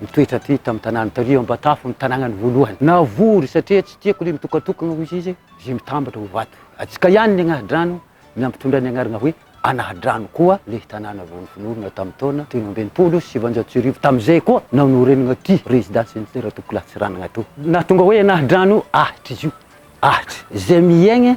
Nitoetra hatreto tamin'ny tanàna taorian'ny Ambatafo ny tanànany voalohany. Navory satria tsy tiako ilay mitokatokana, hoy izy, izay mitambatra ho vato. Antsika ihany ny Anahadrano ny hampitondra ny anarana hoe Anahadrano koa ilay tanàna vao nofonorina tamin'ny taona telo amby enimpolo sy sivinjato sy arivo. Tamin'izay koa no norenana ity rezidansin'ny Ratokola Tsiranana ity. Nahatonga hoe Anahadrano ahitra izy io, ahitra izay miaigna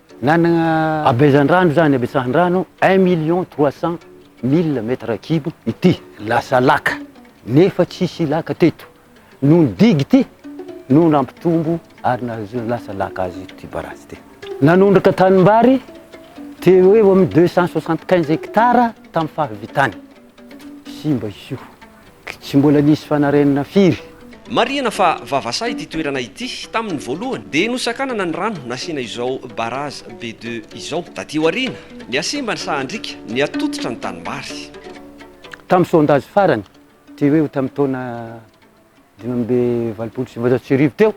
Nanana habezan-drano izany habetsahan-drano un million trois cent mille mètres cubes ity. Lasa laka nefa tsisy laka teto. Noho ny digue ity no nampitombo ary nahazoana lasa laka azy ity barazy ity. Nanondraka tanimbary teo eo amin'ny deux cent soixante quinze hectares tamin'ny fahavitany. Simba izy io. Tsy mbola nisy fanarenana firy. Marihina fa vavasaha ity toerana ity tamin'ny voalohany dia nosakanana ny rano nasiana izao barrage be deux izao taty aoriana. Nihasimba ny sahan-driaka, nihatototra ny tanimbary. Tamin'ny sondage farany, toy hoe ho tamin'ny taona dimy amby valopolo sy sivinjato sy arivo teo,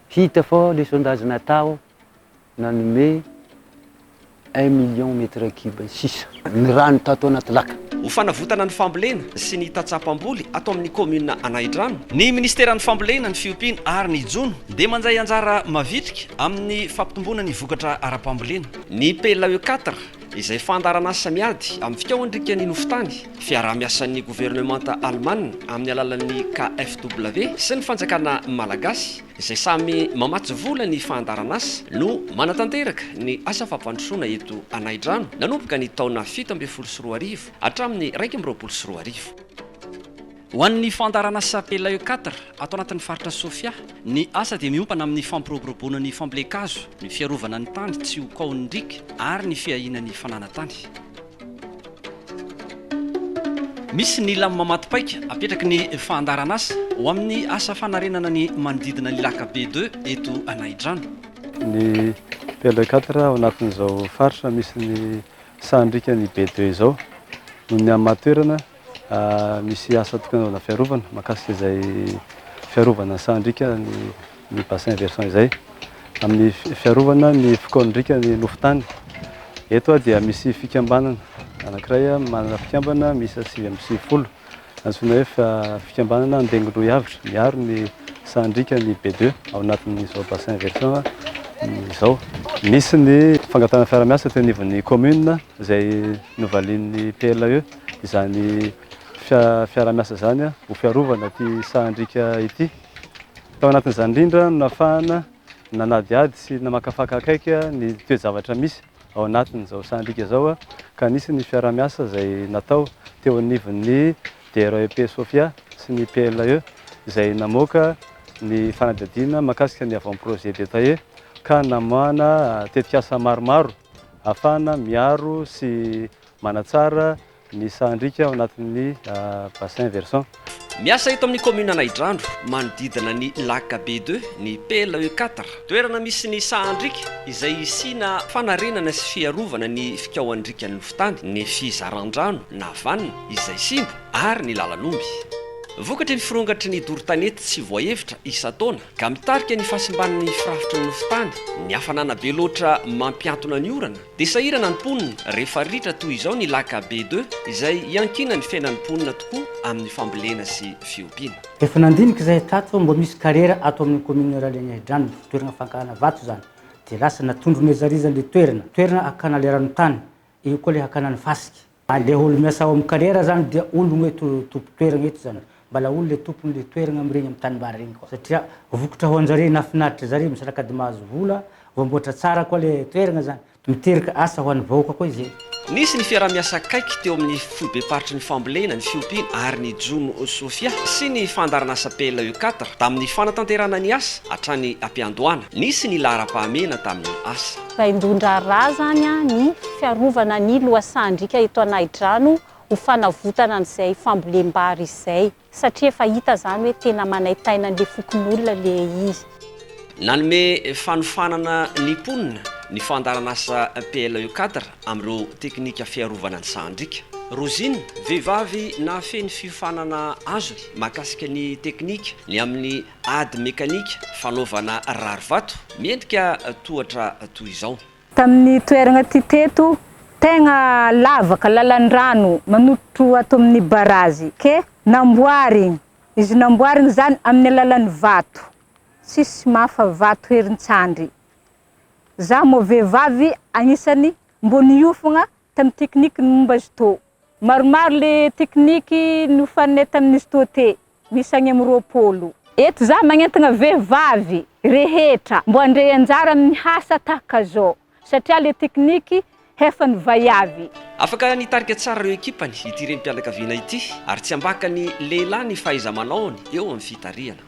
hita fa ilay sondage natao nanome un million mètre cube sisa ny rano tato anaty laka. Ho fanavotana ny fambolena sy ny tatsapam-boly ato amin'ny kaominina Anahidrano, ny minisiteran'ny Fambolena, ny fiompiana ary ny jono dia mandray anjara mavitrika amin'ny fampitomboana ny vokatra ara-pambolena. Ny PLAE quatre, izay fandaharan'asa miady amin'ny fikaohan-drikan'ny nofon-tany, fiaraha-miasan'ny governemanta alemana amin'ny alalan'ny KfW sy ny fanjakana malagasy, izay samy mamatsy vola ny fahandaran'asa no manatanteraka ny asa fampandrosoana eto Anaidrano nanomboka ny taona fito ambin'ny folo sy roa arivo hatramin'ny iraika amby roapolo sy roa arivo. Ho an'ny fahandaran'asa Pelayo quatre ato anatin'ny faritra Sofia, ny asa dia miompana amin'ny fampiroboroboana ny fambolen-kazo, ny fiarovana ny tany tsy ho kaohin'ny riaka ary ny fiahiana ny fananantany. Misy ny lamina matipaika apetraky ny fahandaran'asa ho amin'ny asa fanarenana ny manodidina ny Lac Be ii eto Anaidrano. Ny pl quatre ao anatin'izao faritra misy ny sahan'drikan'ny Be ii izao noho ny hamaha toerana. Misy asa tokony hanaovana fiarovana mahakasika izay fiarovana sahan-driaka ny bassin versant izay amin'ny fiarovana ny fokoan'ny riaka ny nofo tany. Eto dia misy fikambanana anankiray manana fikambana miisa sivy amby sivifolo antsoina hoe fikambanana Andengilohy Avitra miaro ny sahan-driaka ny B2 ao anatin'izao bassin versant izao. Nisy ny fangatahana fiaraha-miasa teo anivon'ny commune izay novalian'ny PLAE. izany fiaraha-miasa izany ho fiarovana ity sahan-driaka ity. Tao anatin'izany indrindra no nafahana nanadihady sy namakafaka akaiky ny toe-javatra misy ao anatin'izao sahan-driaka izao ka nisy ny fiaraha-miasa izay natao teo anivon'ny DREP Sofia sy ny PLE izay namoaka ny fanadihadiana mahakasika ny Avant Projet Détaillé ka namoahana tetikasa maromaro ahafahana miaro sy Manatsara ny sahan-driaka ao anatin'ny bassin versant. Miasa eto amin'ny kaominina Anaidrano, manodidina ny lac be deux, ny PLE quatre. Toerana misy ny sahan-driaka izay hisiana fanarenana sy fiarovana ny fikaohan-driakan'ny lofontany, ny fizaran-drano na vanina izay simba ary ny lalan'omby. Vokatry ny firongatry ny doro-tanety tsy voahevitra isan-taona ka mitarika ny fahasimban'ny firafitry ny lofontany, ny hafanana be loatra mampiantona ny orana, Dia sahirana ny mponina rehefa ritra toy izao ny lac Abbé Deux izay iankinan'ny fiainan'ny mponina tokoa amin'ny fambolena sy fiompiana. Efa nandinika izahay tato fa mbola misy kariera ato amin'ny kaominina Ralegnaidrano ny fitoerana fankahana vato izany dia lasa natondron'ezarizany ilay toerana, toerana hakana ilay ranotany, eo koa ilay hakana ny fasika. Andeha olo miasa ao am carrière zany dia ologno eto tompo toeragna eto zany mbala olo le tompony le toeragna am regny am tanimbary regny koa satria vokatra ho anjare na finaritra zare misy rakady mahazo vola voamboatra tsara koa le toeragna zany miteraka asa ho any vahoaka koa izay. Nisy ny fiaraha-miasa akaiky teo amin'ny foibe-paritry ny fambolena, ny fiompiana ary ny jono sofia sy ny fandaharanasa PLE quatre tamin'ny fanatanterahana ny asa hatrany am-piandohana. Nisy ny laharam-pahamehana tamin'ny asa. Vaindohan-draharaha izany ny fiarovana ny lohasahan-driaka eto Anahidrano ho fanavotana an'izay fambolem-bary izay, satria efa hita izany hoe tena manaintaina an'ilay fokonolona ilay izy. Nanome fanofanana ny mponina ny fandaharanasa PLE Cadre amin'ireo teknika fiarovana ny sahan-driaka. Rosine, vehivavy nahafehy ny fiofanana azony mahakasika ny teknika ny amin'ny Ady mekanika fanaovana rarivato miendrika tohatra toy izao. Tamin'ny toerana ity teto, tegna lavaka lalan-drano manototro ato amin'ny barazy ke namboarigny. Izy namboarigny zany amin'ny alalan'ny vato. Tsisy mafa vato herin-tsandry. Za moa vehivavy agnisan'ny mbô niofagna tamin'ny tekniky ny momba Judo. Maromaro le tekniky nofaninay tamin'ny Judo te, misy agny amin'ny roapolo. Eto za magnentagna vehivavy rehetra mbô handray anjara amin'ny hasa tahaka zao satria le tekniky hefa novaiavy. Afaka nitarika tsara ireo ekipany ity renim-pianakaviana ity ary tsy ambaka ny lehilahy ny fahaiza-manaony eo amin'ny fitarihana.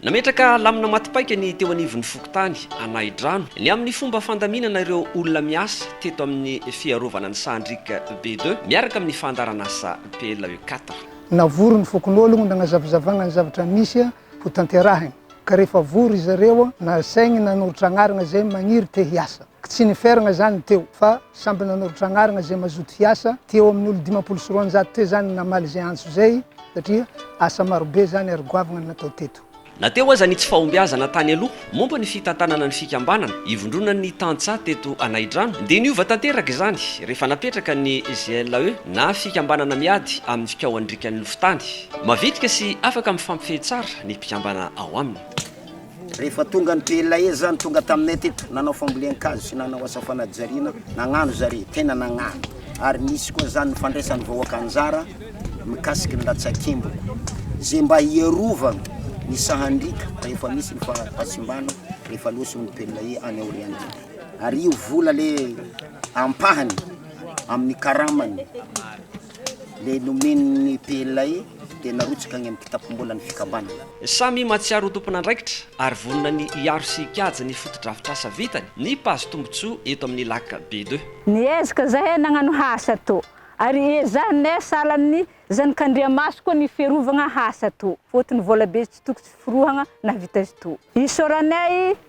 Nametraka lamina maty paika ny teo anivon'ny fokontany Anahidrano ny amin'ny fomba fandaminana ireo olona miasa teto amin'ny fiarovana ny sahan-driaka BIDE miaraka amin'ny fandaharanasa PLE quatre. Navory ny fokonolona nagnazavazavagna ny zavatra misy ho tanterahigny, ka rehefa vory izy ireo, nasaigny nanoratra agnarana izay magniry te hiasa. Tsy niferagna izany teo fa samby nanoratra agnaragna izay mazoto hiasa, teo amin'ny olo dimampolo sy roanjato teo izany ny namaly izay antso izay satria asa marobe izany ary goavagna ny natao teto. Na teo aza ny tsy fahombiazana tany aloha momba ny fitantanana ny fikambanana ivondronan'ny tantsaha teto Anaidrano dia niova tanteraka izany rehefa napetraka ny GLAE na fikambanana miady amin'ny fikaohan-drikan'ny lofon-tany mavitrika sy afaka mifampifehy tsara ny mpikambana ao aminy. Rehefa tonga ny PLAE zany tonga taminay teto nanao fambolen-kazo sy nanao asa fanajariana nagnano zare tena nagnano ary nisy koa zany ny fandraisan'ny vahoaka anjara mikasiky ny latsakemboko ze mba hiarovagna ny sahandriaka rehefa misy ny fahasimbana rehefa loso ny PLAE any aoriana ary io vola le ampahany amin'ny karamany Ilay nomen'ny PLAE dia narotsaka any amin'ny kitapom-bolan'ny fikambanana. Samy mahatsiaro ho tompon'andraikitra ary vonona ny hiaro sy hikajy ny fotodrafitrasa vitany ny mpahazo tombontsoa eto amin'ny Lac B2. Niezaka izahay nagnano hasa to ary ezahinay sahalan'ny zanak'Andriamaso koa ny fiarovagna hasa to fotony volabe tsy tokotry forohagna nahavita izy to. Isaoranay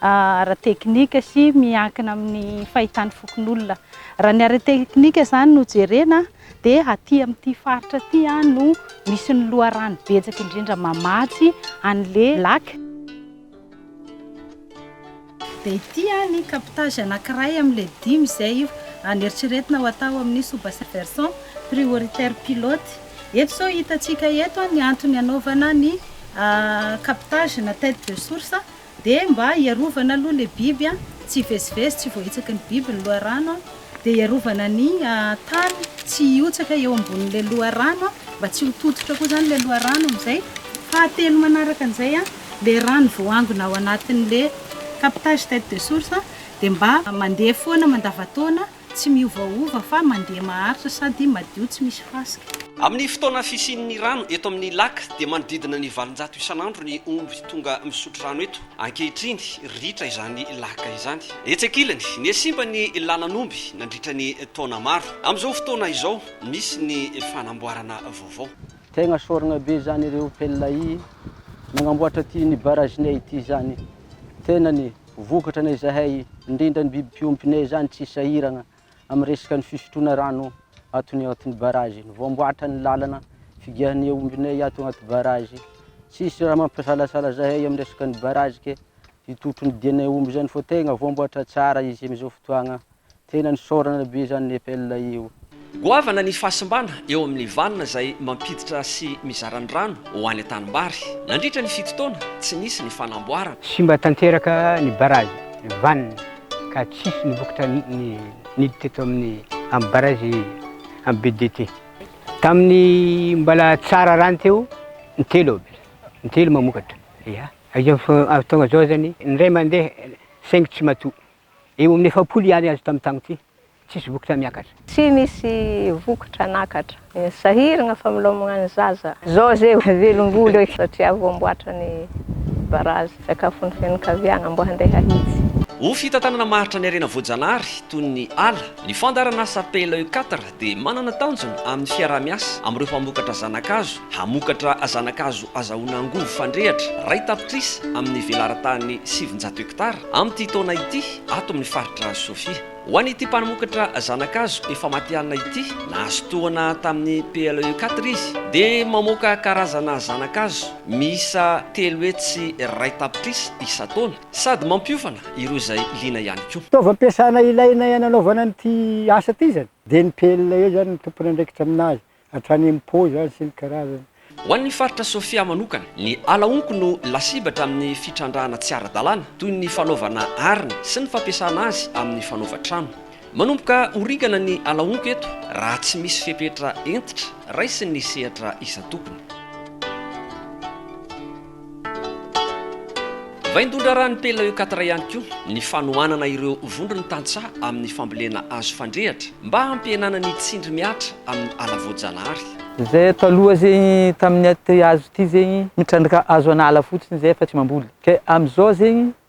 ara-teknika sy miankina amin'ny fahitan'ny fokonolona. Raha ny ara-teknika izany no jerena dia aty amin'ity faritra aty no misy ny loharano betsaka indrindra mamatsy an'le lac. Dia ity ny captage anankiray amin'le dimy izay neritreretina ho atao amin'ny sous-bassin-versant prioritaire pilote. Eto izao hitantsika eto ny antony anaovana ny captage na tete de source. Dia mba hiarovana aloha ilay biby an, tsy hivezivezy, tsy voahitsaky ny biby ny loharano an, dia hiarovana ny tany tsy hihotsaka eo ambonin'ilay loharano an, mba tsy ho tototra koa izany ilay loharano amin'izay, fahatelo manaraka an'izay an, ilay rano voaangona ao anatin'ilay captage tête de source dia mba mandeha foana mandavantaona, Tsy miovaova fa mandeha maharitra sady madio tsy misy fasika. Amin'ny fotoana fisian'ny rano eto amin'ny lac dia manodidina ny valonjato isan'andro ny omby tonga misotro rano eto. Ankehitriny, ritra izany lac izany. Etsy ankilany, nihasimba ny lalan'omby nandritra ny taona maro. Amin'izao fotoana izao, misy ny fanamboarana vaovao. Tegna sorogna be zany ireo pelina y nagnamboatra ty ny barrage-nay ity zany. Tenany Vokatra na izahay, indrindra ny biby mpiompina izany tsy sahiragna amin'ny resaka ny fisotroana rano atony ao anatin'ny barrage. Ny voamboatra ny lalana figiahan'ny aombinay ato anaty barrage. Tsisy raha mampisalasala zahay amin'ny resaka ny barrage ke hitotro ny dianay omby izany fa tegna voamboatra tsara izy amin'izao fotoagna Tena nisaorana be zany nepel io. Goavana ny fahasimbana eo amin'ny vanona izay mampiditra sy mizara ny rano ho any an-tanimbary. Nandritra ny fito taona, tsy nisy ny fanamboarana. Simba tanteraka ny barazy vanona ka tsisy ny vokatra niditra eto amin'ny amin'ny barazy amin'ny BDT. Tamin'ny mbola tsara rano teo, intelo aby, intelo mamokatra. Ia. Izao fotoana izao zany, indray mandeha saingy tsy matoa. Eo amin'ny efapolo ihany azo tamin'ny taona ity, tsisy vokatra miakatra. Tsy misy vokatra nakatra. Sahiragna familomagna ny zaza. Zao ze velom-boly oi satria vo amboatra ny barazy. Sakafon'ny fianakaviagna mbo handeha hahitsy. Ho fitantanana maharitra ny harena voajanahary toy ny ala, ny fandaharan'asa PLEU quatre dia manana tanjona amin'ny fiaraha-miasa amin'ireo mpamokatra zana-kazo hamokatra zana-kazo azahoana angovo fandrehatra iray tapitrisa amin'ny velaran-tany sivinjato hektara amin'ity taona ity ato amin'ny faritra Sofia. Ho an'ity mpanomokatra zana-kazo efa matihanina ity, nahazo tohana tamin'ny PLE quatre izy dia mamoaka karazana zana-kazo miisa telo hetsy iray tapitrisa isan-taona. Sady mampiofana ireo izay liana ihany koa. Fitaovam-piasana ilaina hananaovana an'ity asa ity izany dia ny pelle eo izany ny tompon'andraikitra amin'azy hatrany amin'ny pot izany sy ny karazany. Ho an'ny faritra Sofia manokana, ny ala honko no lasibatra amin'ny fitrandrahana tsy ara-dalàna toy ny fanaovana arina sy ny fampiasana azy amin'ny fanaovan-trano. Manomboka ho ringana ny ala honko eto raha tsy misy fepetra hentitra raisin'ny sehatra isan-tokony. Vaindohan-draharahan'ny PLECATRA ihany koa ny fanohanana ireo vondron'ny tantsaha amin'ny fambolena hazo fandrehatra mba hampihenana ny tsindry mihatra amin'ny ala voajanahary. Zay taloha zegny tamin'ny aty hazo ty zegny mitrandraka hazo an'ala fotsiny zay fa tsy mamboly, kay amizao zegny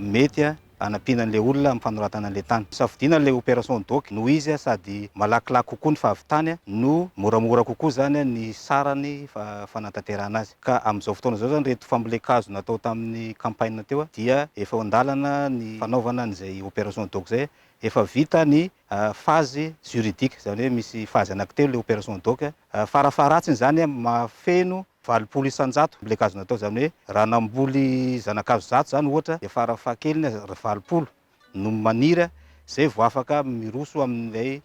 mety hanampiana an'ilay olona amin'ny fanoratana an'ilay tany. Safidiana ilay opération doc noho izy sady malakilaky kokoa ny fahavitany no moramora kokoa izany ny sarany fanantanterahana azy. Ka amin'izao fotoana izao izany ireto fambolen-kazo natao tamin'ny campagne teo dia efa eo an-dalana ny fanaovana an'izay opération doc izay. Efa vita ny phase juridique, izany hoe misy phase anankitelo ilay opération doc. Farafaharatsiny izany, mahafeno valopolo isan-jato ny legiazo natao. Izany hoe raha namboly zanakazo zato izany ohatra dia farafahakeliny aza valopolo no maniry izay vao afaka miroso amin'ilay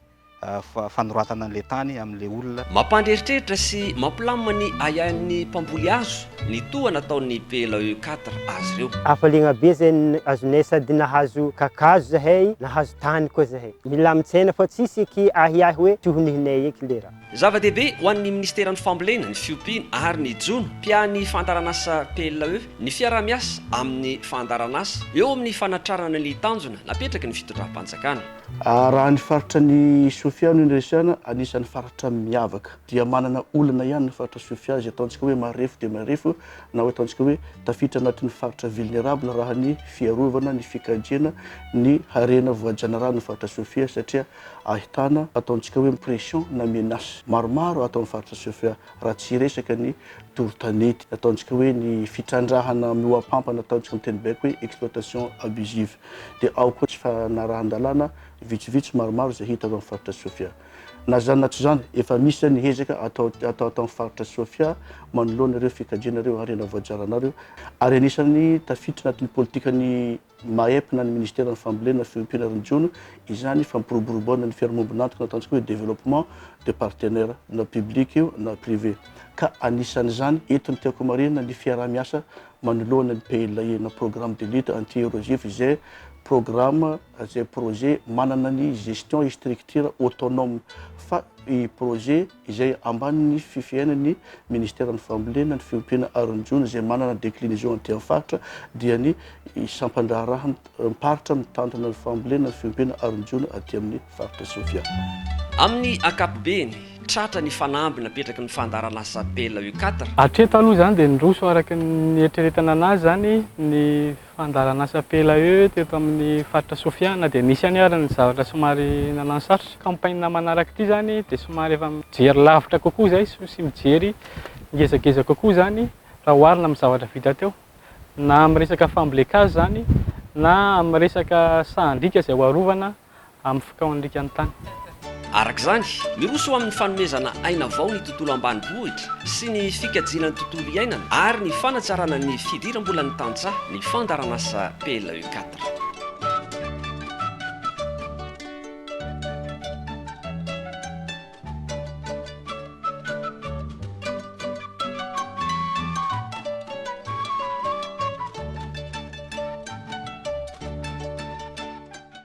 fanoratana an'ilay tany amin'ilay olona. Mampandreritreritra sy mampilamina ny ahiahin'ny mpamboly hazo Ny toa nataon'ny PLAE quatre azy ireo. Hafaliagna be zay azonay sady nahazo kakazo zahay, nahazo tany koa zahay. Milamin-tsaina fa tsisy eky ahiahy hoe tsy ho nihinay eky le raha. Zava-dehibe ho an'ny Ministeran'ny Fambolena, ny Fiompiana ary ny Jono, mpiahan'ny fandaharanasa PLAE, ny fiaraha-miasa amin'ny fandaharanasa eo amin'ny fanatrarana ny tanjona napetraky ny fitondram-panjakana. Raha ny faritra ny Sofia no niresahana, anisan'ny faritra miavaka. dia manana olana ihany ny faritra Sofia izay ataontsika hoe marefo dia marefo na hoe ataontsika hoe tafiditra anatin'ny faritra vulnérable raha ny fiarovana ny fikajiana ny harena voajanahary ny faritra Sofia satria ahitana ataontsika hoe pression na menace maromaro ato amin'ny faritra Sofia raha tsy hiresaka ny doro tanety ataontsika hoe ny fitrandrahana mihoapampana ataontsika amin'ny teny baiko hoe exploitation abusive dia ao koa tsy fanarahan-dalàna vitsivitsy maromaro izay hita ao amin'ny faritra Sofia. Na izany na tsy izany, efa misy izao ny hezaka atao atao ato amin'ny faritra Sofia manoloana ireo fikajiana ireo harena voajaranao ireo, ary anisan'ny tafiditra anatin'ny politikan'ny MAEP na ny Ministeran'ny Fambolena, Fiompiana ary ny Jono izany fampiroboroboana ny fiarahamombon'antoka na ataontsika hoe développement de partenaires, na public io na privé. Ka anisan'izany eto ny tiako homarihina ny fiaraha-miasa manoloana ny PLAE na Programme de lutte anti-érosif izay programa, izay projet manana ny gestion et structure autonome fa i projet izay ambanin'ny fifehaina ny ministeran'ny fambolena, ny fiompiana ary ny jono izay manana declinaison aty amin'ny faritra dia ny sampandraharahan-paritra mitantana ny fambolena, ny fiompiana ary ny jono aty amin'ny faritra Sofia. Amin'ny ankapobeny, tratra ny fanamby napetraky ny fandaharan'asa Bela Ucadre. Hatreto aloha izany dia niroso araka ny nieritreretana an'azy izany ny. Fandaharan'asa PLAE teto amin'ny faritra Sofia na dia nisy ihany ary ny zavatra somary nanano sarotra. Campagne manaraka ity izany dia somary efa mijery lavitra kokoa izay sy mijery ngezangeza kokoa izany raha oharina amin'ny zavatra vita teo. Na amin'ny resaka fambolen-kazo izany na amin'ny resaka sahan-driaka izay ho arovana. amin'ny fikaon'alika ny tany. Araka izany, miroso ho amin'ny fanomezana aina vao ny tontolo ambanivohitra sy ny fikajiana ny tontolo iainana ary ny fanatsarana ny fidiram-bolan'ny tantsaha ny fandaharanasa PLE quatre.